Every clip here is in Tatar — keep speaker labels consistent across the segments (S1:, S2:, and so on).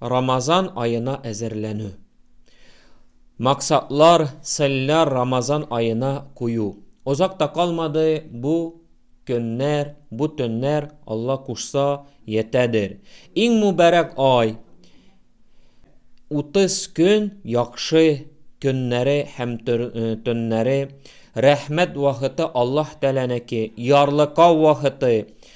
S1: Рамазан аена әзерләнү. Максатлар, целләр Рамазан аена кую. Озак та калмады, бу көннәр, бу төннәр, Алла кушса, йәтәдер. Иң мүбәрәк ай, 30 көн яхшы көннәре һәм төннәре, рәхмәт вахыты Аллаһ Тәгаләнеке, ярлыкау вахыты.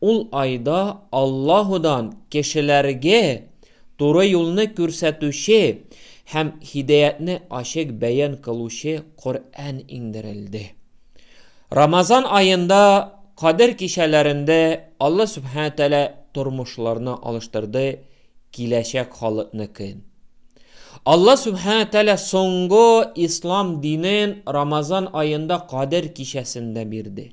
S1: Ул айда Аллаһудан кешеләргэ туры юлны күрсәтүче һәм һидаятьне ачык бәян кылучы Коръән иңдерелде. Рамазан аенда Кадер кичәләрендә Алла Сүбхәнә Тәгалә тормышларны алыштырды киләчәк халыкныкын. Алла Сүбхәнә Тәгалә соңгы Ислам динен Рамазан аенда Кадер кичәсендә бирде.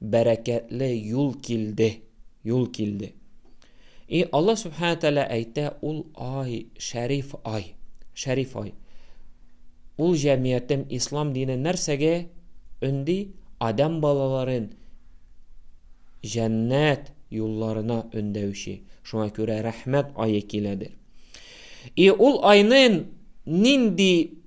S1: бәрәкәтле юл килде, юл килде. И Аллаһ Субхану Тәлә әйтә, ул ай, шәриф ай, шәриф ай. Ул җәмиятем ислам дине нәрсәгә өнди? Адам балаларын җәннәт юлларына өндәүче. Шуңа күрә рәхмәт айы киләдер. И ул айнын нинди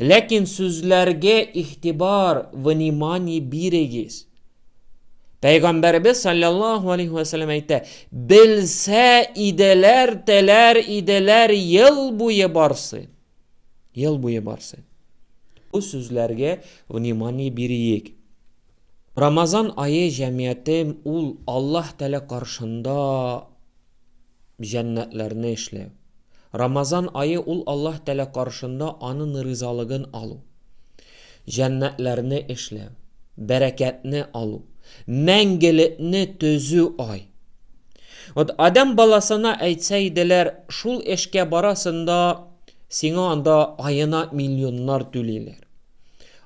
S1: Ләкин сүзләргә игътибар, внимание бирегез. Пәйгамбәребез саллаллаху алейхи ва саллям әйтә, белсә иделәр, теләр иделәр ел буе барсы. Ел буе барсы. Бу сүзләргә внимание бирик. Рамазан айы җәмгыятем ул Аллаһ Тәгалә каршында җәннәтләрне эшләү. Рамазан ае ул Аллаһ Тәгалә каршында Анын ризалыгын алу, җәннәтләрне эшләү, бәрәкәтне алу, мәңгелекне төзү ай. Вот Адәм баласына әйтсә иделәр, шул эшкә барасың да, сиңа анда аена миллионнар түлиләр.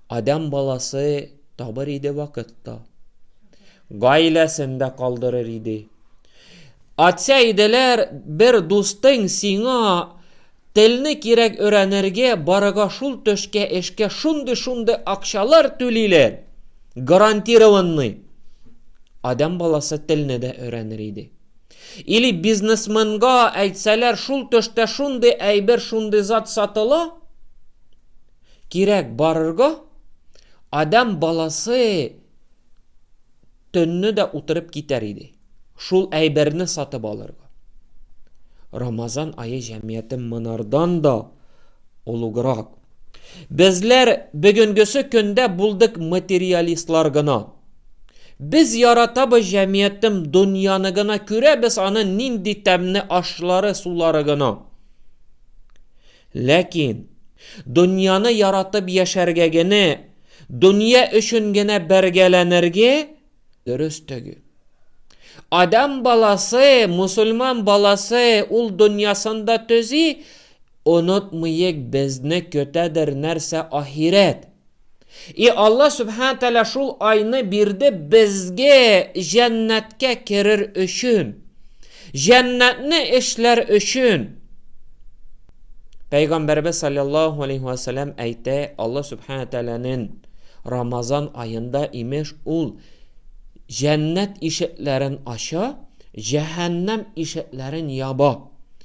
S1: Адәм баласы табыр иде вакыт та. Гаиләсен дә калдырыр иде. Атсә иделәр, бер дустың сиңа телне кирәк өрәнергә, барыга шул төшкә эшкә шундый-шундый акчалар түлиләр, гарантированный. Адәм баласы телне дә өрәнер иде. Или бизнесменга әйтсәләр, шул төштә шундый әйбер, шундый зат сатыла, кирәк барырга, адәм баласы төнне дә утырып китәр иде. Шул әйберне сатып алырга. Рамазан айы җәмгыяте монардан да олуграк. Безләр бүгенгесе көндә булдык материалистлар гына. Без яратабыз җәмгыятем дөньяны гына күрәбез аны нинди тәмне ашлары сулары гына. Ләкин, дөньяны яратып яшәргә генә, дөнья өчен генә бәргәләнергә дөрес төгел. Адәм баласы, мусульман баласы ул дөньясын да төзи, онытмыек безне көтәдер нәрсә ахирәт. И Алла Сүбхәнә Тәгалә шул айны бирде безгә җәннәткә керер өчен, җәннәтне эшләр өчен. Пәйгамбәребез салләллаһу алейһи вә сәлләм әйтә, Алла Сүбхәнә Тәгаләнең Рамазан аенда имеш ул җәннәт ишекләрен ача, җәһәннәм ишекләрен яба.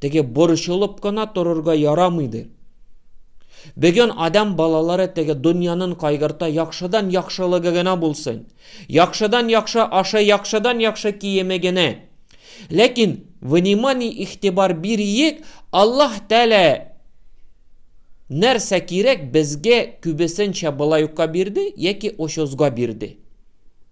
S1: Теге борчылып кына торырга ярамыйды. Бүген адам балалары теге дөньянын кайгырта, яхшыдан яхшылыгы гына булсын. Яхшыдан яхшы ашы, яхшыдан яхшы киеме генә. Ләкин внимание игътибар бириек, Аллаһ Тәгалә нәрсә кирәк безгә күбесенчә былай ука бирде яки очозга бирде.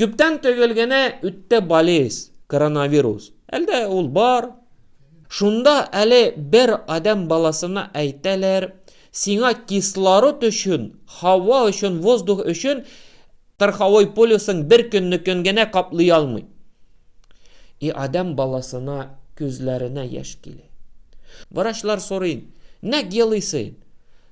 S1: Күптән түгел генә үтте болез, коронавирус. Әлдә ул бар. Шунда әле бер адәм баласына әйтәләр, сиңа кислород өчен, һава өчен, воздух өчен кырхавой полюсың бер көннекен генә каплый алмый. И адәм баласына күзләренә яшь килә. Врачлар сорый, нәк елыйсың?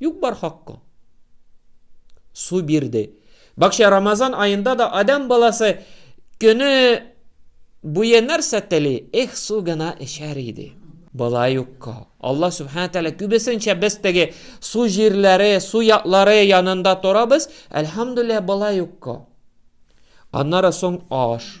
S1: Юк бар хаккы. Су бирде. Бакча Рамазан аенда да адам баласы көне буе нәрсә тели? Эх, су гына эчәр иде. Бала юкка. Алла Субхана Тәлә күбесенчә без теге су җирләре, су ятлары янында торабыз, әлхәмдүлилләһ бала юкка. Аннары соң аш.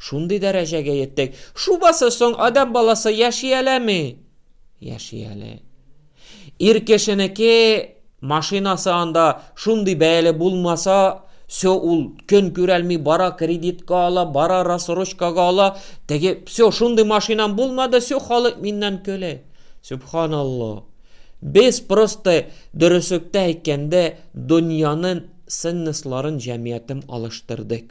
S1: Шундый дәрәҗәгә йеттек. Шубасы соң адәм баласы яши әләме? Яши әле. Ир кешенеке машинасы анда шундый бәяле булмаса, все ул көн күрәлми бара, кредитка ала, бара рассрочкага ала. Теге все шундый машинам булмады, все халык миннән көлә. Субханалла. Без просто дөреслекте әйткәндә дөньянын ценностларын, җәмгыятен алыштырдык.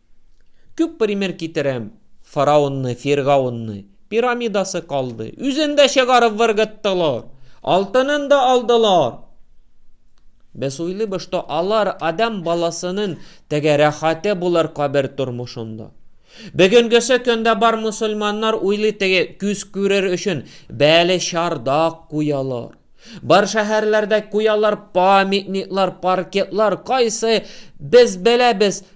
S1: Күп пример китерәм. Фараонны, Фиргаунны. Пирамидасы калды. Үзен дә чыгарып выргыттылар. Алтынын да алдылар. Без уйлыйбыз, что алар адам баласының теге рәхәте булыр кабер тормышында. Бүгенгесе көндә бар мусульманнар уйлый теге күз күрер өчен бәле чардак куялар. Бар шәһәрләрдә куялар памятниклар, паркетлар, кайсы без беләбез,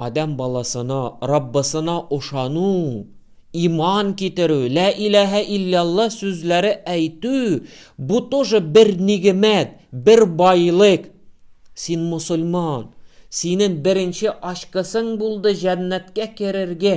S1: Адәм баласына, Раббысына ошану, иман китерү, лә иләһә иллялла сүзләре әйтү, бу тоже бер нигемәт, бер байлык. Син мосылман, синең беренче очкосың булды җәннәткә керергә.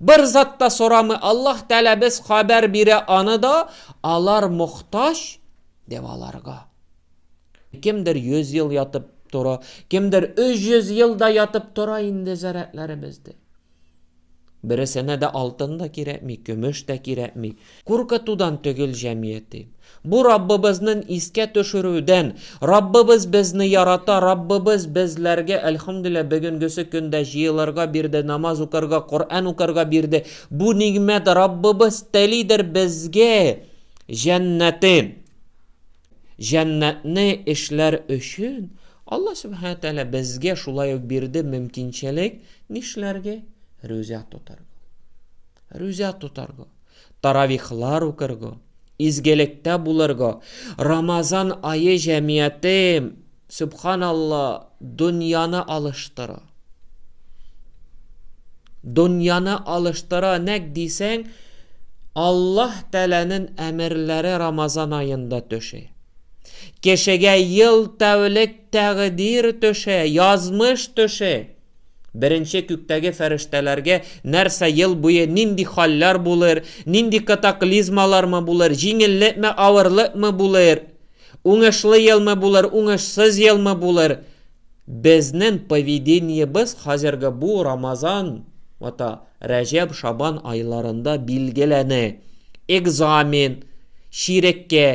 S1: Бер зат та сорамый Аллаһ Тәгалә без хәбәр бирә аны да, алар мохтаҗ дип аларга. Кемдер 100 ел ятып тора, кемдер 300 ел да ятып тора инде зарядларыбызды. Бересенә дә алтын да кирәкми, көмеш тә кирәкми. Куркытудан төгел җәмияти. Бу Раббыбызнын искә төшерүдән, Раббыбыз безне ярата, Раббыбыз безләргә, әлхөмдүлләһ, бөгенгесе көндә җыелырга бирде, намаз укырга, Коръән укырга бирде. Бу нигъмәт, Раббыбыз телидер безгә җәннәте. Җәннәтне эшләр өчен Аллаһ Сүбхәнәһү Тәгалә безгә шулай ук бирде мөмкинчелек нишләргә? Рүзә тотарга. Рүзә тотарга. таравихлар укырга, изгелектә булырга, Рамазан ае җәмиятем, сөбханалла, дөньяны алыштыра. Дөньяны алыштыра, нәк дисәң, Аллаһ Тәгаләнең әмерләре Рамазан аенда төшә. Кешегә ел тәүлек тәкъдир төшә, язмыш төшә. Беренче күктәге фәрештәләргә нәрсә ел буе нинди хәлләр булыр, нинди катаклизмалармы булыр, җиңеллекме, авырлыкмы булыр, уңышлы елмы булыр, уңышсыз елмы булыр? Безнең поведениебез хәзерге бу Рамазан ата Рәҗәб, Шабан айларында билгеләнә. Экзамен, чиреккә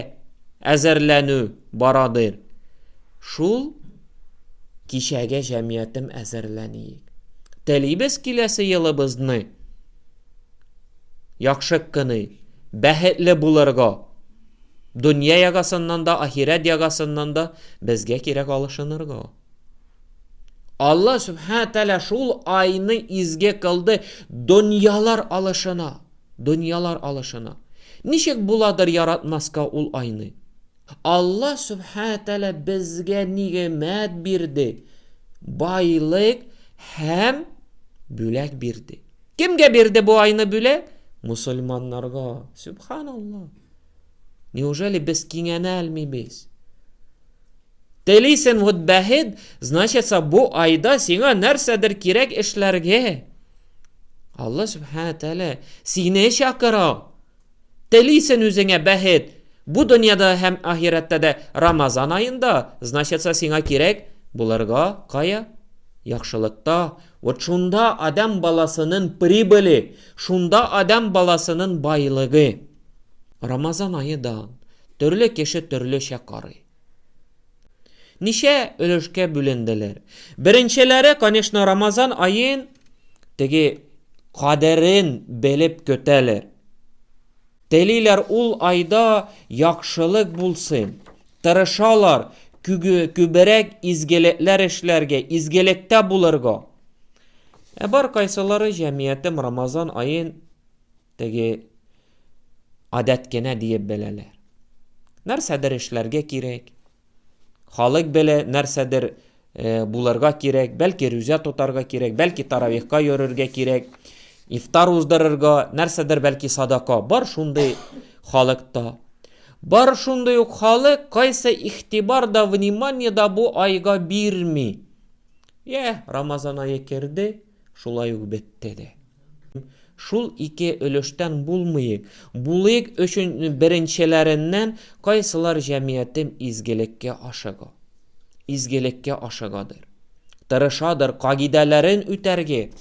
S1: әзерләнү барадыр. Шул Кичәге җәмиятем әзерләниек. Телибез киләсе елыбызны яхшы кыны, бәхетле булырга. Дөнья ягасыннан да, ахирәт ягасыннан да безгә кирәк алышынырга. Алла Субхана Тәлә шул айны изге кылды дөньялар алышына. Дөньялар алышына. Ничек буладыр яратмаска ул айны? Алла Сүбхәнә Тәгалә безгә нигъмәт бирде, байлык һәм бүләк бирде. Кемгә бирде бу айны бүләк? Мусульманнарга. Сүбханалла. Неужели без киңәнә алмыйбыз? Телисен вот бәхет, значит, бу айда сиңа нәрсәдер кирәк эшләргә. Алла Сүбхәнә Тәгалә сине чакыра. Телисен үзеңә бәхет! Бу дөньяда һәм ахирәттә дә Рамазан аенда, значится сиңа кирәк булырга кая? Яхшылыкта, вот шунда адәм баласынын прибыли, шунда адәм баласынын байлыгы. Рамазан ае дан, төрле кеше төрлечә карый. Ничә өлешкә бүленделәр? Беренчеләре, конечно, Рамазан аен теге кадерен белеп көтәләр. Телиләр ул айда яхшылык булсын. Тырышалар күберәк изгелекләр эшләргә, изгелектә булырга. Ә бар кайсылары җәмгыятем Рамазан аен теге адәт кенә диеп беләләр. Нәрсәдер эшләргә кирәк. Халык белә, нәрсәдер э, булырга кирәк, бәлки рүзә тотарга кирәк, бәлки таравихка йөрергә кирәк, ифтар уздырырга, нәрсәдер бәлки садака. Бар шундый халыкта. Бар шундый ук халык, кайсы ихтибар да, внимание да бу айга бирми. Йә, Рамазан айы керде, Шулай ук бетте дә. Шул ике өлештән булмыйк. Булыйк өчен беренчеләреннән кайсылар җәмиятем изгелеккә ашыга. Изгелеккә ашыгадыр. Тырышадыр кагыйдәләрен үтәрге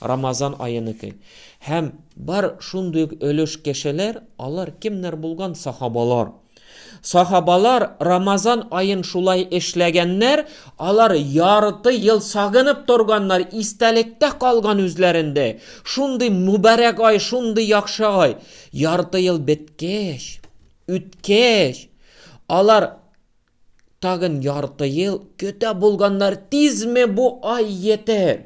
S1: Рамазан аеныкы. Һәм бар шундый ук өлеш кешеләр, алар кемнәр булган сахабалар. Сахабалар Рамазан аен шулай эшләгәннәр, алар ярты ел сагынып торганнар, истәлектә калган үзләрендә, шундый мөбарәк ай, шундый яхшы ай. Ярты ел беткәч, үткәч, алар тагын ярты ел көтә булганнар, тизме бу ай йетер?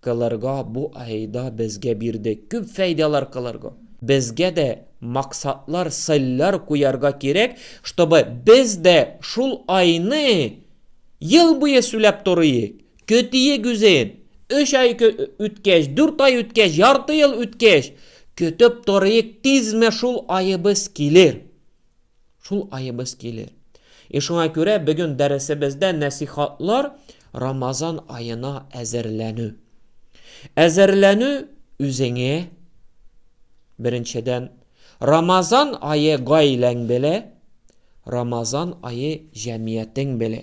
S1: Кылырга бу айда безгә бирде. Күп фәйдалар кылырга. Безгә дә максатлар, цельләр куярга кирәк, чтобы без дә шул айны ел буе сүләп торыйк, көтиек үзен, өч ай үткәч, дүрт ай үткәч, ярты ел үткәч, көтеп торыйк, тизме шул аебыз килер. Шул аебыз килер. И шуңа күрә бүген дәресебездә нәсихатлар Рамазан аена әзерләнү. Әзерләнү үзеңә беренчедән Рамазан ае гаиләң белә, Рамазан ае җәмиятең белә.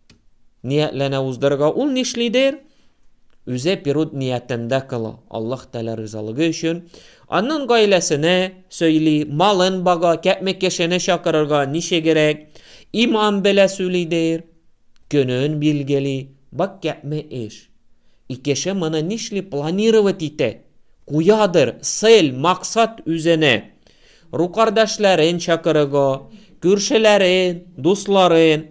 S1: ниятләнә уздырырга ул нишлидер? Үзе перуд ниятендә кыла, Аллаһ Тәгалә ризалыгы өчен. Аннан гаиләсенә сөйли, малын бага, кәпме кешене чакырырга, ничегрәк, имам белә сүлидер, көнен билгели, бак кәпме эш. И кеше моны нишли планировать итә, куядыр, цель, максат үзенә. Ру кардәшләрен чакырыго, күршеләрен, дусларын,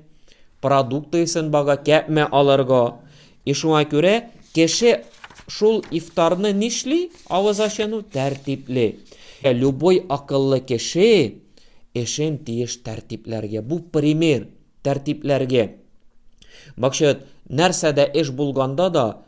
S1: продуктыысын бага кәпмә алырго. И шуңа күрә кеше шул ифтарны нишли, авыз ачыну тәртипле. Любой акыллы кеше эшен тиеш тәртипләргә. Бу пример тәртипләргә. Бакчыыт, нәрсә дә эш булганда да,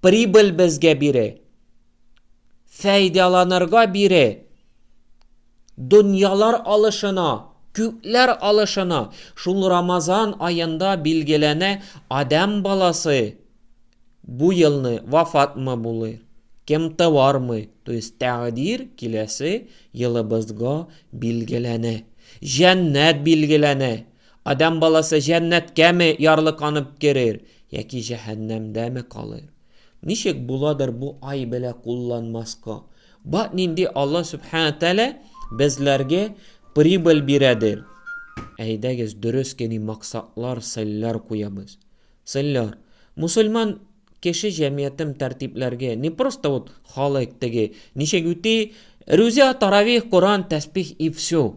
S1: прибыль безгә бире, фәйдаланырга бире, дөньялар алышына, күкләр алышына, шул Рамазан аенда билгеләнә Адәм баласы бу елны вафатмы булыр, кем тыармы, то есть тәкъдир киләсе елыбызга билгеләнә, җәннәт билгеләнә. Адәм баласы җәннәткәме ярлыканып керер, яки җәһәннәмдәме калыр? Ничек буладыр бу ай белә кулланмаска? Бак нинди Алла Сүбхәнә Тәгалә безләргә прибыль бирәдер. Әйдәгез, дөрес кени максатлар, сыйлар куябыз. Сыйлар. Мусульман кеше җәмиятем тәртипләргә, не просто вот халык теге, ничек үти, рүзә, таравих, Коран, тәсбих и все.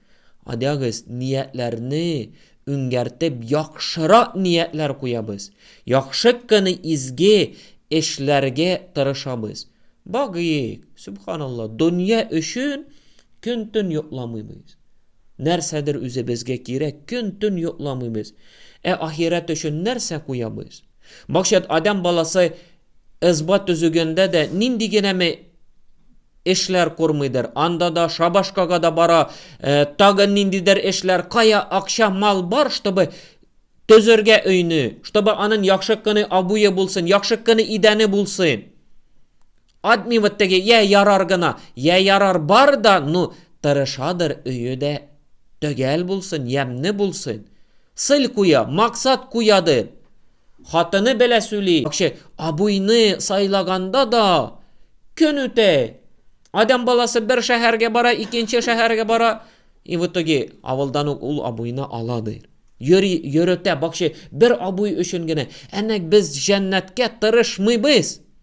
S1: Адягыз, ниятләрне үңгәртеп яхшырак ниятләр куябыз, яхшы кыны изге эшләргә тырышабыз. Багыйк, Сүбханалла, дөнья өчен көн-төн йокламыйбыз. Нәрсәдер үзебезгә кирәк, көн-төн йокламыйбыз. Ә ахирәт өчен нәрсә куябыз? Максат, адәм баласы ызба төзегәндә дә нинди генәме Эшләр курмыйдыр, анда да, шабашкага да бара, тагын ниндидер эшләр, кая акча, мал бар, чтобы төзергә өйне, чтобы анын яхшы кыны абуе булсын, яхшы кыны идәне булсын. Адми вот теге, я ярар гына, я ярар бар да, ну, тырышадыр өйе дә төгәл булсын, ямне булсын. Сыль куя, максат куядыр. Хатыны белә сүли. Акче, абыйны сайлаганда да көн үтә. Адам баласы бер шәһәргә бара, икенче шәһәргә бара. И в итоге авылдан ук ул абыйны ала ди. Йөри, йөретә, бакче, бер абый өчен генә. Әнәк без җәннәткә тырышмыйбыз.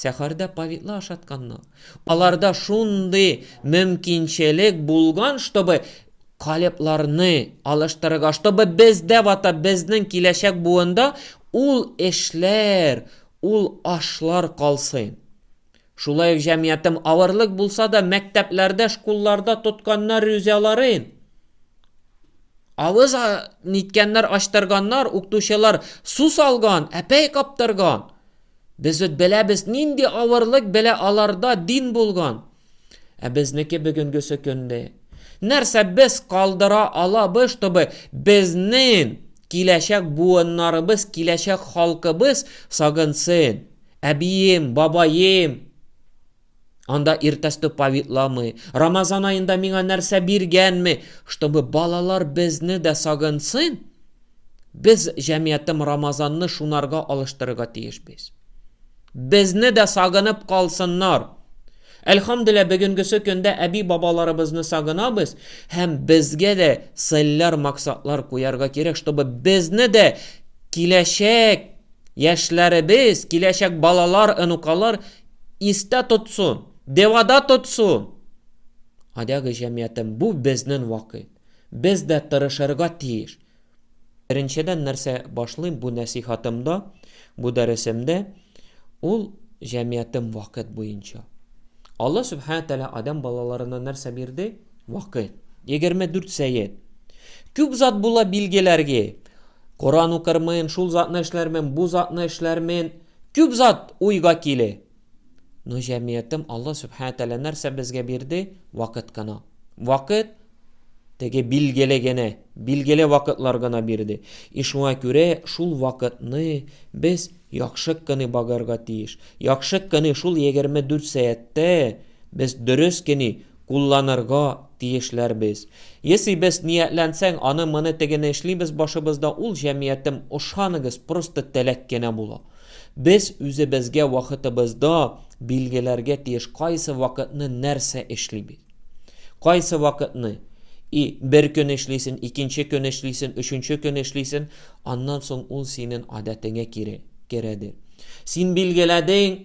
S1: Сәхәрдә повидло ашатканнар. Аларда шундый мөмкинчелек булган, чтобы калепларны алыштырырга, чтобы бездә вата безнең киләчәк буында ул эшләр, ул ашлар калсын. Шулай ук җәмгыятем авырлык булса да мәктәпләрдә, шкулларда тотканнар рюзяларын. Авыз ниткәннәр, ачтырганнар, укытучылар су салган, әпәй каптырган. Без үт беләбез, нинди авырлык белә аларда дин булган. Ә безнеке бүгенгесе көнне. Нәрсә без калдыра алабыз, чтобы безнең киләчәк буыннарыбыз, киләчәк халкыбыз сагынсын? Әбием, бабаем, Анда иртәсте повитламый, Рамазан аенда миңа нәрсә биргәнме, чтобы балалар безне дә сагынсын, без җәмиятем Рамазанны шунарга алыштырырга тиеш без. Безне дә сагынып калсыннар. Әлхамдүлилла бүгенгесе көндә әби-бабаларыбызны сагынабыз һәм безгә дә целләр, максатлар куярга кирәк, чтобы безне дә киләчәк яшьләребез, киләчәк балалар, онукалар истә тотсын, девада тотсын. Адәге җәмиятем, бу безнен вакыт. Без дә тырышырга тиеш. Беренчедән нәрсә башлыйм бу нәсыйхатымда, бу дәресемдә, ул җәмиятем вакыт буенча. Алла Сүбхәнә Тәгалә Адәм балаларына нәрсә бирде? Вакыт. 24 сәет. Күп зат була билгеләрге. Коран укырмын, шул затны эшләрмен, бу затны эшләрмен. Күп зат уйга киле. Но җәмиятем Алла Сүбхәнә Тәгалә нәрсә безгә бирде? Вакыт кына. Вакыт теге билгеле генә, билгеле вакытлар гына бирде. И шуңа күрә шул вакытны без яхшык кыны багарга тиеш. Яхшык кыны шул 24 сәяттә без дөрес кени, Кулланырга тиешләр без. Есыйбыз, ниятләнсәң, аны-моны тегене эшлибез башыбызда ул җәмиятем, ошаныгыз, просто теләк кенә була. Без үзебезгә вакытыбызда билгеләргә тиеш кайсы вакытны нәрсә эшлибез. Кайсы вакытны и бер көн эшлисен, икенче көн эшлисен, өченче көн эшлисен, аннан соң ул синен адәтеңә кире, керәдер. Син билгеләдең,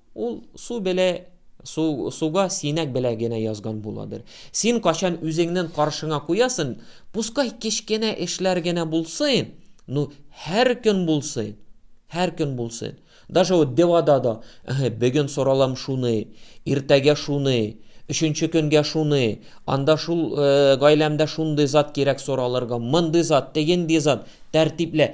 S1: Ул су белә, су, суга синәк белә генә язган буладыр. Син качан үзеңнен каршыңа куясын, пускай кечкенә эшләр генә булсын, ну, һәр көн булсын, һәр көн булсын. Даже вот девада да, эһе, бөген соралам шуны, иртәгә шуны, өченче көнгә шуны, анда шул, э, гаиләмдә шундый зат кирәк соралырга, мондый зат, тегенди зат, тәртиплә.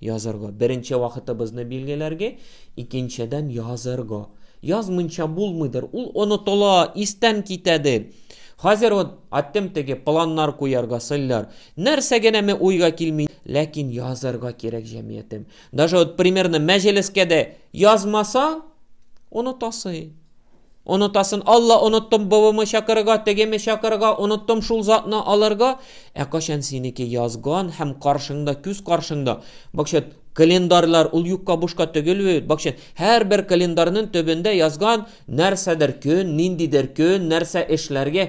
S1: Язырга. Беренче вакытыбызны билгеләргә, икенчедән язырга. Язмынча булмыйдыр, ул онытыла, истән китәде. Хәзер вот аттем теге планнар куярга сыллар. Нәрсә генә ме уйга килми, ләкин язырга кирәк җәмиятем. Даже вот примерно мәҗлескә дә язмаса, онытасы. Онытасын, Алла, оныттым бывымы чакырырга, тегеме чакырырга, оныттым шул затны алырга. Ә качан синеке язган һәм каршыңда, күз каршыңда, бакчат, календарьлар, ул юкка бушка түгел бит, бакчат, һәрбер календарьның төбендә язган нәрсәдер көн, ниндидер көн, нәрсә эшләргә,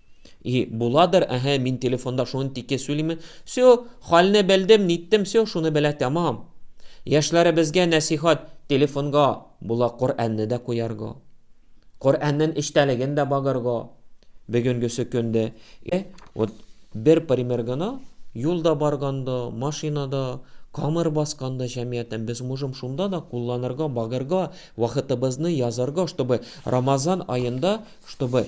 S1: И буладыр, әһә, мин телефонда шуны тике сөйлиме. Сё, хальне белдем, ниттем, сё, шуны белә тәмам. Яшьләребезгә нәсихат, телефонга була Коръәнне дә куярга. Коръәннен эчтәлеген дә багырга. Бөгенгесе көндә. Э, вот бер пример гына, юлда барганда, машинада, камыр басканда җәмгыятен без можем шунда да кулланырга, багырга, вакытыбызны язарга, чтобы Рамазан аенда, чтобы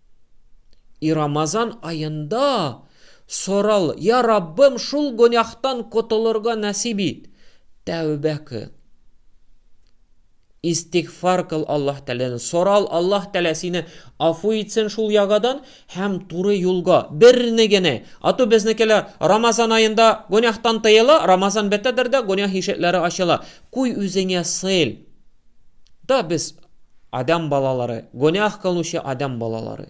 S1: И Рамазан аенда сорал, Я Раббым, шул гөнаһтан котылырга нәсиб ит. Тәүбә кыл. Истигъфар кыл Аллаһ Тәгаләдән. Сорал Аллаһ Тәгалә сине афу итсен шул ягадан һәм туры юлга, берни генә. Ату безнекеләр Рамазан аенда гөнаһтан тыела, Рамазан бетәдер дә гөнаһ ишекләре ачыла. Куй үзеңә сыйл. Да без адам балалары, гөнаһ кылучы адам балалары.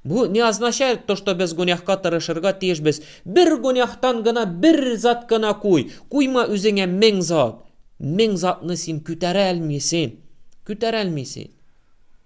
S1: Бу не означает то, что без гөнаһка тырышырга тиешбез. Бер гөнаһтан гына бер зат кына куй. Куйма үзеңә мең зат. Мең затны син күтәрә алмыйсың. Күтәрә алмыйсың.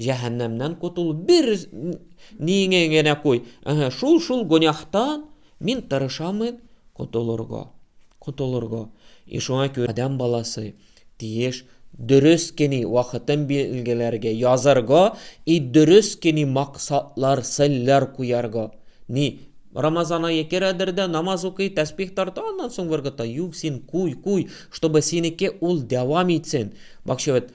S1: Җәһәннәмнән котыл, бер ниеңә генә куй. Әһә, шул шул гөнахтан мин тырышамын котылырга. Котылырга. И шуңа күрә адәм баласы тиеш дөрес кени вакытын билгеләргә, язарга и дөрес кени максатлар, целләр куярга. Ни, Рамазан ае керәдер дә, намаз укый, тәсбих тарта, аннан соң выргыта. Юк, син куй, куй, чтобы синеке ул дәвам итсен. Бакчавет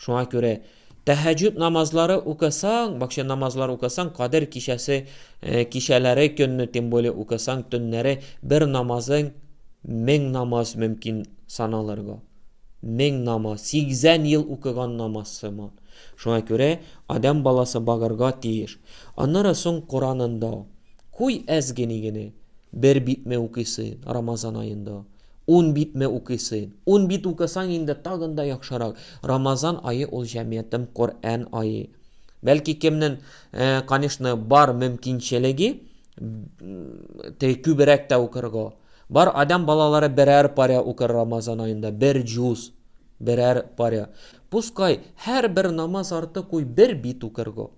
S1: Шуңа күрә тәһәҗүд намазлары укысаң, бакча намазлары укысаң, Кадер кичәсе кичәләре көнне, тем более укысаң төннәре бер намазың мең намаз мөмкин саналырга. Мең намаз, 80 ел укыган намаз сыман. Шуңа күрә адәм баласы багырга тиеш. Аннары соң Куранында, куй әз генигене, бер битме укыйсы Рамазан аенда. Ун битме укыйсыйн? Ун бит укысаң инде тагын да яхшырак. Рамазан ае ул җәмиятем Коръән ае. Бәлки кемнен, конечно, бар мөмкинчелеге, теге күберәк тә укырга. Бар адәм балалары берәр паря укыр Рамазан аенда, бер җуз, берәр паря. Пускай һәр бер намаз арты куй бер бит укырга.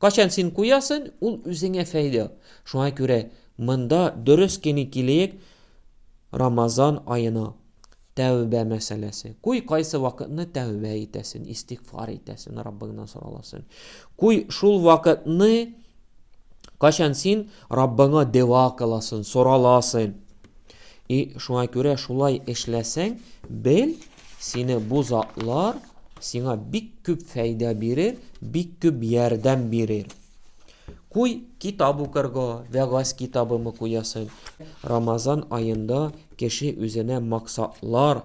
S1: Качан син куясын, ул үзеңә фәйдә. Шуңа күрә монда дөрес кени килеек Рамазан аена. Тәүбә мәсьәләсе. Куй кайсы вакытны тәүбә итәсен, истигъфар итәсен, Раббыңнан сораласын. Куй шул вакытны качан син Раббыңа дәва кыласын, сораласын. И шуңа күрә шулай эшләсәң, бел, сине бу затлар сиңа бик күп фәйдә бирер, бик күп ярдәм бирер. Куй китап укырга, вәгазь китабымы куясың? Рамазан аенда кеше үзенә максатлар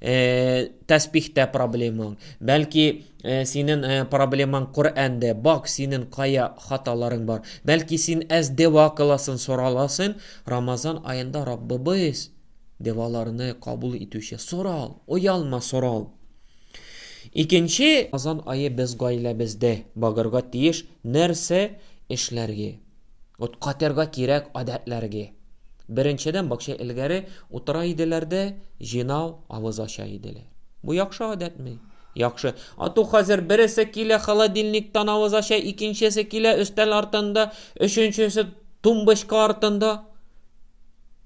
S1: Э, тәспихтә проблемаң, бәлки э, синен э, проблемаң Коръәндә, бак синен кая хаталарың бар. Бәлки син әз дева кыласын сораласын, Рамазан аенда Раббыбыз деваларны кабул итүче. Сорал, оялма, сорал. Икенче Рамазан айы без гаиләбездә багырга тиеш нәрсә эшләргә? Вот катерга кирәк адәтләрге. Беренчедән бакча элгәре утыра иделәр дә җинау авыз ача иделәр. Бу яхшы адәтме? Яхшы. Ату хәзер бересе килә холодильниктан авыз ача, икенчесе килә өстәл артында, өченчесе тумбочка артында.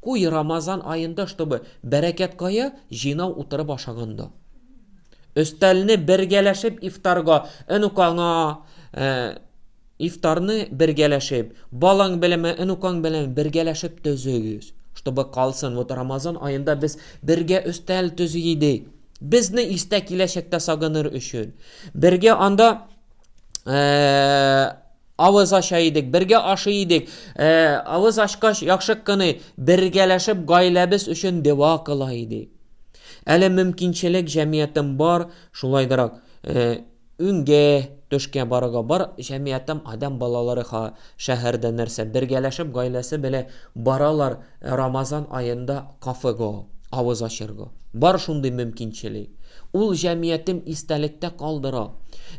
S1: Куй Рамазан аенда, чтобы бәрәкәт кая җинау утырып ашаганда. Өстәлне бергәләшеп ифтарга, энук аңа э, Ифтарны бергәләшеп, балаң беләнме, онукаң белән бергәләшеп төзегез. Чтобы калсын, вот Рамазан аенда без бергә өстәл төзи идек. Безне истә киләчәктә сагыныр өчен. Бергә анда авыз ача идек, бергә ашый идек. Авыз ачкач, яхшы кыны, бергәләшеп гаиләбез өчен дәва кыла идек. Әле мөмкинчелек җәмиятем бар, шулайдырак. Үңгә, төшкә барырга бар, җәмиятем адәм балалары ха, шәһәрдә нәрсә, бергәләшеп гаиләсе белә баралар Рамазан аенда кафе го, авыз ачыр го. Бар шундый мөмкинчели. Ул җәмиятем истәлектә калдыра.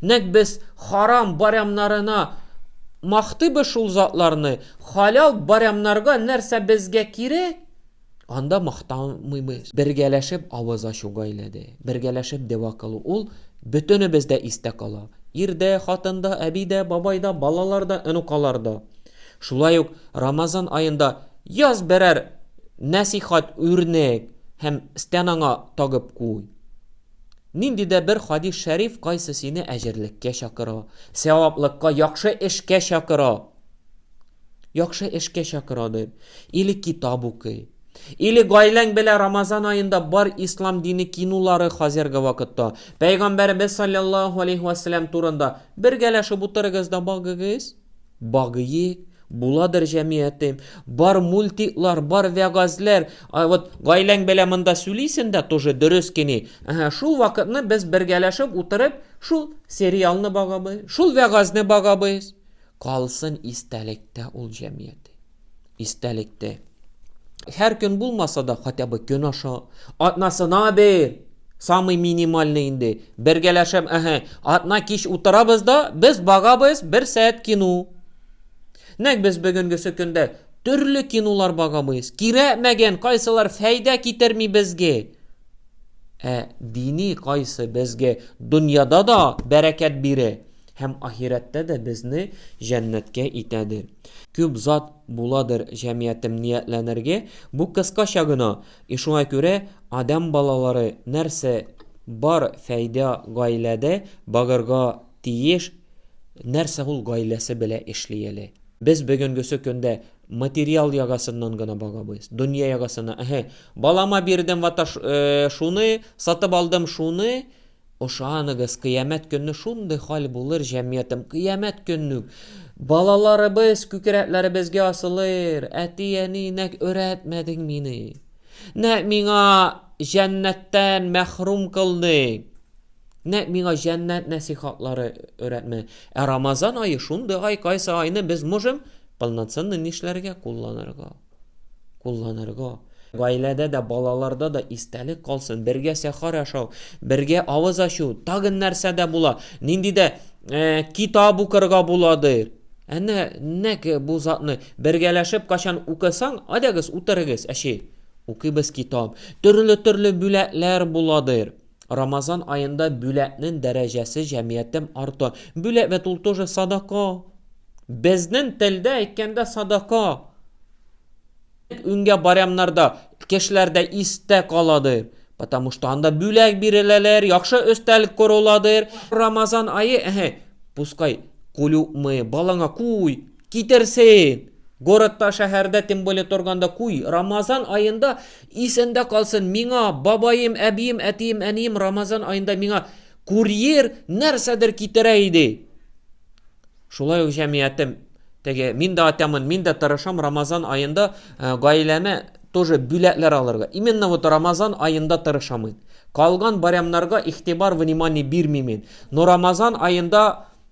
S1: Нәкъ без харам барямнарына мактыйбыз шул затларны, халәл барямнарга нәрсә безгә кирәк? Анда мактанмыйбыз. Бергәләшеп авыз ачу гаиләдә, бергәләшеп дәва кылу ул бөтенебездә истә кала. Ирдә, хатында, әбидә, бабайда, балаларда, онукаларда. Шулай ук Рамазан аенда яз берәр нәсыйхәт үрнәк һәм стенаңа тагып куй. Нинди дә бер хадис шәриф кайсы сине әҗерлеккә чакыра, сәваплыкка, яхшы эшкә чакыра. Яхшы эшкә чакыра бел. Или китап укый. Или гаиләң белә Рамазан аенда бар ислам дине кинулары хазерге вакытта. Пәйгамбәребез салляллаһу алейһи вә сәлләм турында бергәләшеп утырыгыз да багыгыз. Багыйк, буладыр җәмиятем. Бар мультиклар, бар вәгазьләр. Ә вот гаиләң белә монда сүлисен дә тоже дөрес кени. Әһә, шул вакытны без бергәләшеп утырып шул сериалны багабыз, шул вәгазьне багабыз. Калсын истәлектә ул җәмгыяте. Истәлектә. Һәр көн булмаса да, хотя бы көн аша атнасына бер самый минимальный инде. Бергәләшәм, әһә, атна кич утырабыз да, без багабыз бер сәгать кино. Нәк без бүгенгесе көндә төрле кинолар багабыз. Кирәкмәгән, кайсылар фәйдә китерми безгә. Ә дини кайсы безгә дөньяда да бәрәкәт бирә. Һәм ахирәттә дә безне җәннәткә итәдер. Күп зат буладыр җәмиятем ниятләнергә, бу кыскача гына. И шуңа күрә, адәм балалары, нәрсә бар фәйдә гаиләдә багырга тиеш, нәрсә ул гаиләсе белә эшли әле. Без бөгенгесе көндә материал ягасыннан гына багабыз, дөнья ягасына, эһе, балама бирдем вата шуны, сатып алдым шуны, Ышаныгыз, кыямәт көнне шундый хәл булыр, җәмгыятем, кыямәт көнне үк балаларыбыз күкрәкләребезгә асылыр, Әти-әни, нәкъ өйрәтмәдең мине, нәкъ миңа җәннәттән мәхрүм кылдың, нәкъ миңа җәннәт нәсыйхатлары өйрәтмә. Ә Рамазан ае шундый ай, кайсы айны без можем полноценный нишләргә кулланырга? кулланырга, гаиләдә дә, балаларда да истәлек калсын, бергә сәхар ашау, бергә авыз ачу, тагын нәрсә дә була, нинди дә э, китап укырга буладыр. Әнә нәк бу затны бергәләшеп качан укысаң, адәгез утырыгыз, әче. Укыйбыз китап. Төрле-төрле бүләкләр буладыр. Рамазан аенда бүләкнен дәрәҗәсе җәмиятем арты. Бүләк бит ул тоже садака. Безнен телдә әйткәндә садака. Үнгә барямнарда кешеләрдә истә каладыр. Потому что анда бүләк биреләләр, яхшы өстәлек коруладыр. Рамазан ае, әһе, пускай кулюкмы, балаңа куй, китерсен. Городта, шәһәрдә, тем более торганда куй. Рамазан аенда Исәндә калсын, миңа, бабаем, әбием, әтием, әнием Рамазан аенда миңа курьер нәрсәдер китерә иде. Шулай ук җәмиятем, теге, мин дә атямын, мин дә тырышам Рамазан аенда э, гаиләмә тоже бүләкләр алырга. Именно вот Рамазан аенда тырышам мин. Калган барямнарга игътибар, внимание бирмим мин. Но Рамазан аенда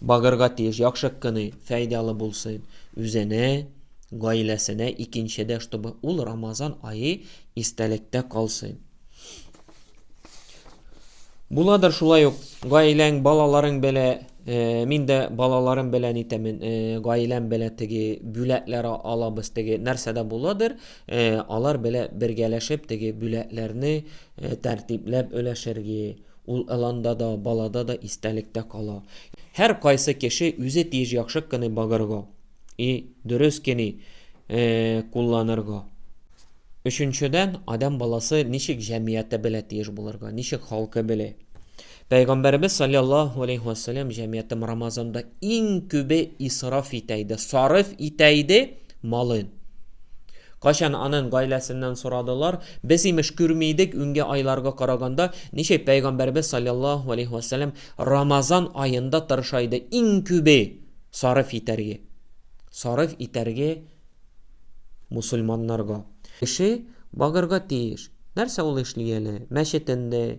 S1: Багырга тиеш, яхшы кыный, фәйдалы булсын, үзенә, гаиләсенә, икенчедә, чтобы ул Рамазан ае истәлектә калсын. Буладыр шулай ук, гаиләң, балаларың белә, мин дә балаларым белән итәмен, гаиләм белә теге бүләкләр алабыз, теге нәрсә дә буладыр, алар белә бергәләшеп теге бүләкләрне тәртипләп өләшергә, Ул ыланда да, балада да истәлектә кала. Һәр кайсы кеше үзе тиеш яхшы кыны багырга и дөрес кени кулланырга. Өченчедән, адәм баласы ничек җәмиятэ белә тиеш булырга, ничек халкы беле. Пәйгамбәребез салляллаһу алейһи ва сәллям җәмиятем Рамазанда иң күбе исраф итә иде, сарыф итә иде малын. Кайчан анын гаиләсеннән сорадылар, без, имеш, күрми идек, үнге айларга караганда, ничек пәйгамбәребез салләллаһу галәйһи вә сәлләм Рамазан аенда тырыша иде иң күбе сарыф итәрге, сарыф итәрге мусульманнарга. Кеше багырга тиеш. Нәрсә ул эшли әле? Мәчетендә,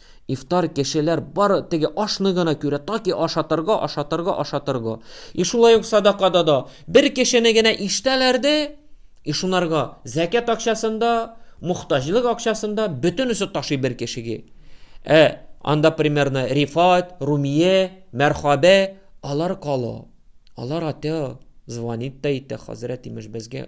S1: Ифтар кешеләр бары теге ашны гына күрә, таки ашатырга, ашатырга, ашатырга. И шулай ук садакада да бер кешене генә ишетәләр дә, и шунарга зәкят акчасын да, мохтаҗлык акчасын да бөтенесе ташый бер кешеге. Ә анда примерно Рифат, Румия, Мәрхабә, алар кала. Алар атя, звонит та итә, хәзрәт, имеш, безгә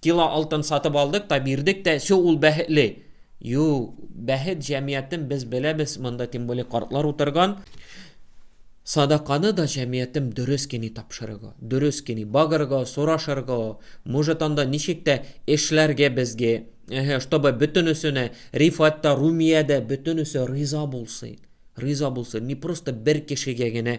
S1: Кило алтын сатып алдык та, бирдек тә, все, ул бәхетле. Юк, бәхет җәмиятен без беләбез, монда тем более картлар утырган. Садаканы да җәмиятем дөрес кени тапшырырга, дөрес кени багырга, сорашырга, может анда ничек тә эшләргә безгә, эһе, чтобы бөтенесенә Рифат та, Румия дә, бөтенесе риза булсын. Риза булсын, не просто бер кешегә генә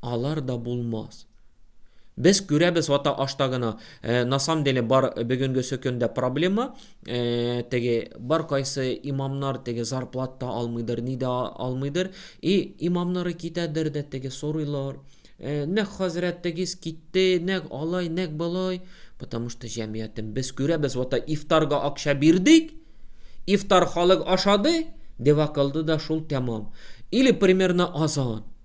S1: Алар да булмас. Без күрәбез ата ашта гына, э, на самом деле бар бөгенгесе көндә проблема, э, теге бар кайсы имамнар теге зарплат та алмыйдыр, ни дә алмыйдыр, и имамнары китәдер дә теге сорыйлар, э, нәк хәзрәт тегез китте, нәк алай, нәк балай, потому что җәмиятен без күрәбез ата ифтарга акча бирдек, ифтар халык ашады, дева кылды да шул тәмам. Или примерно азан.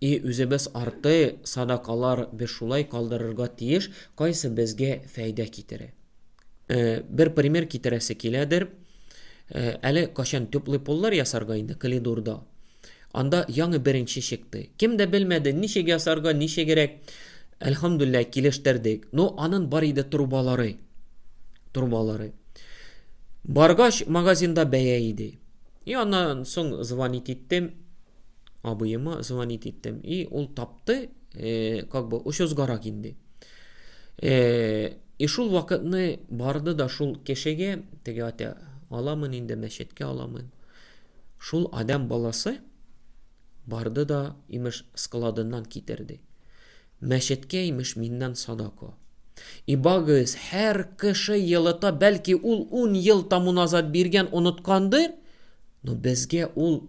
S1: И үзебез арты садакалар без шулай калдырырга тиеш, кайсы безгә фәйдә китере. Э, бер пример китерәсе киләдер. Э, әле качан теплый поллар ясарга инде калидурда. Анда яңы беренче чыкты. Кем дә белмәде, ничек ясарга, ничегерәк. Әлхамдулләһ килештердек. Но анын бар иде трубалары. Трубалары. Баргач магазинда бәя иде. И аннан соң звонить иттем. абыема звонить иттем. И ул тапты, э, как бы очызгарак инде. Э, и шул вакытны барды да шул кешегә, теге ата аламын инде мәчеткә аламын. Шул адам баласы барды да имеш складыннан китерде. Мәчеткә имеш миннән садако. И багыз һәр кеше елыта, бәлки ул 10 ел тому назад биргән, оныткандыр, но безгә ул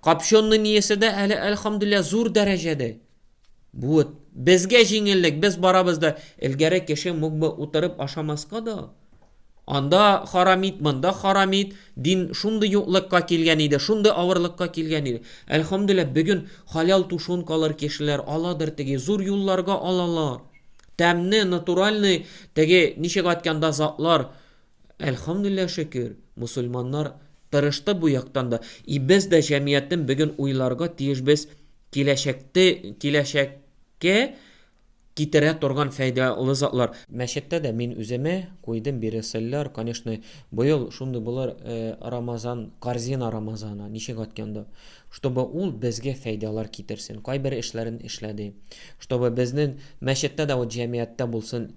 S1: Копчённый ниясе дә әле, әлхәмдүлилләһ, зур дәрәҗәдә. Бу вот безгә җиңеллек, без барабыз да, элгәре кеше мог бы утырып ашамаска да. Анда харам ит, монда харам ит, дин шундый юклыкка килгән иде, шундый авырлыкка килгән иде. Әлхәмдүлилләһ, бүген хәләл тушенкалар кешеләр аладыр теге, зур юлларга алалар. Тәмне, натуральный, теге ничек айтканда затлар, Әлхәмдүлилләһ шөкер, мусульманнар тырышты бу яктан да. И без дә җәмгыятен бөген уйларга тиеш без киләчәкте киләчәккә китерә торган фәйдалы затлар. Мәчеттә дә мин үземә куйдым бире сыльлар, конечно, быел шундый булыр Рамазан, корзина Рамазана ничек атканда, чтобы ул безгә фәйдалар китерсен, кайбер эшләрен эшләде, чтобы безнең мәчеттә дә вот җәмгыятьтә булсын,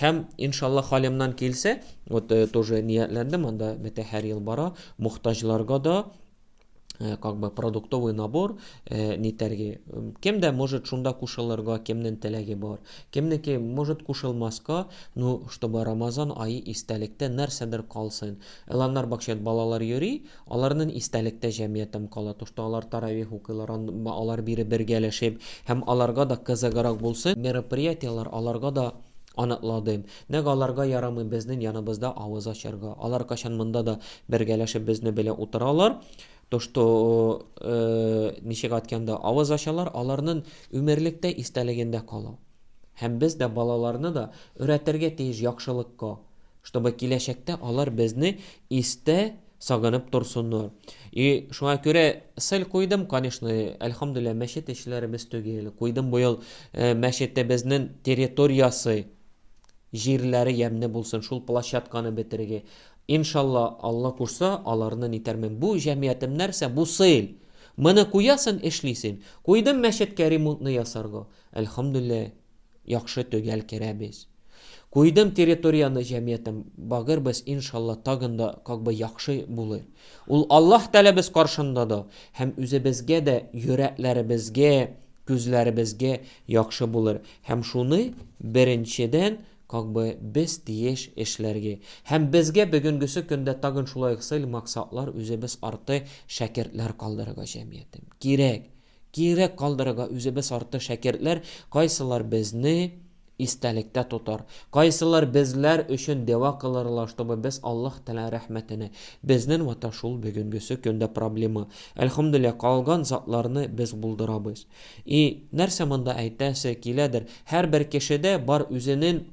S1: Һәм, иншалла, халемнан килсә, вот тоже ниятләндем, анда бетә һәр ел бара, мохтаҗларга да как бы продуктовый набор нитәргә. Кем дә может шунда кушылырга, кемнең теләге бар. Кемнеке может кушылмаска, ну, чтобы Рамазан ае истәлектә нәрсәдер калсын. Эланнар бакчат балалар йөри, Аларнын истәлектә җәмиятем кала, тошта алар таравих укыйлар, ан ба алар бире бергәләшеп, һәм аларга да кызыгырак булсын, мероприятияләр аларга да аныкладым. Нәкъ аларга ярамый безнен яныбызда авыз ачарга. Алар кайчан монда да бергәләшеп безне белә утыралар, тошто ы ничек атканда авыз ачалар, аларнын үмерлектә истәлегендә кала. Һәм без дә балаларны да өрәтергә тиеш якшылыкка, чтобы киләчәктә алар безне истә сагынып торсыннар. И шуңа күрә сел куйдым, конечно, әлхамдуллилла мәчет эшләре без түгел. Куйдым бу ел э, мәчеттә безнең территориясе, җирләре ямьне булсын, шул площадканы бетереге. Иншалла, Алла кушса, аларны нитәрмен. Бу җәмиятем нәрсә? Бу сел. Моны куясын, эшлисен. Куйдым мәчеткә ремонтны ясарга. Әлхамдуллилла. яхшы төгәл керәбез. Куйдым территорияны җәмиятем багыр без иншалла тагын да как бы яхшы булыр. Ул Аллаһ тәләбез каршында да һәм үзебезгә дә йөрәкләребезгә, күзләребезгә яхшы булыр һәм шуны беренчедән как бы без тиеш эшләргә. Һәм безгә бөгенгесе көндә тагын шулай ук цель максатлар үзебез арты шәкертләр калдырырга җәмиятем. Кирәк! Кирәк калдырырга үзебез арты шәкертләр, кайсылар безне истәлектә тотар, кайсылар безләр өчен дәва кылырлар, чтобы без Аллаһ Тәгалә рәхмәтенә. Безнен вата шул бөгенгесе көндә проблема. Әлхәмдүлилләһ, калган затларны без булдырабыз. И, нәрсә монда әйтәсе киләдер, һәрбер кешедә бар үзенен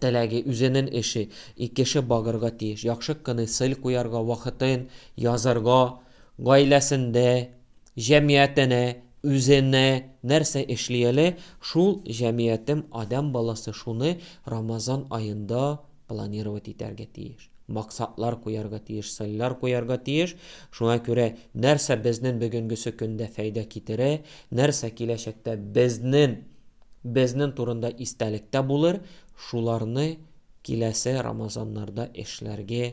S1: теләге, үзенен эше. И кеше багырга тиеш, яхшы кыны сыль куярга, вакытын, язырга. Гаиләсендә, җәмиятенә, үзенә нәрсә эшли әле, шул җәмиятем, адәм баласы шуны Рамазан аенда планировать итәргә тиеш. Максатлар куярга тиеш, цельләр куярга тиеш. Шуңа күрә нәрсә безнен бөгенгесе көндә фәйдә китерә, нәрсә киләчәктә безнен, безнен турында истәлектә булыр, шуларны киләсе Рамазаннарда эшләргә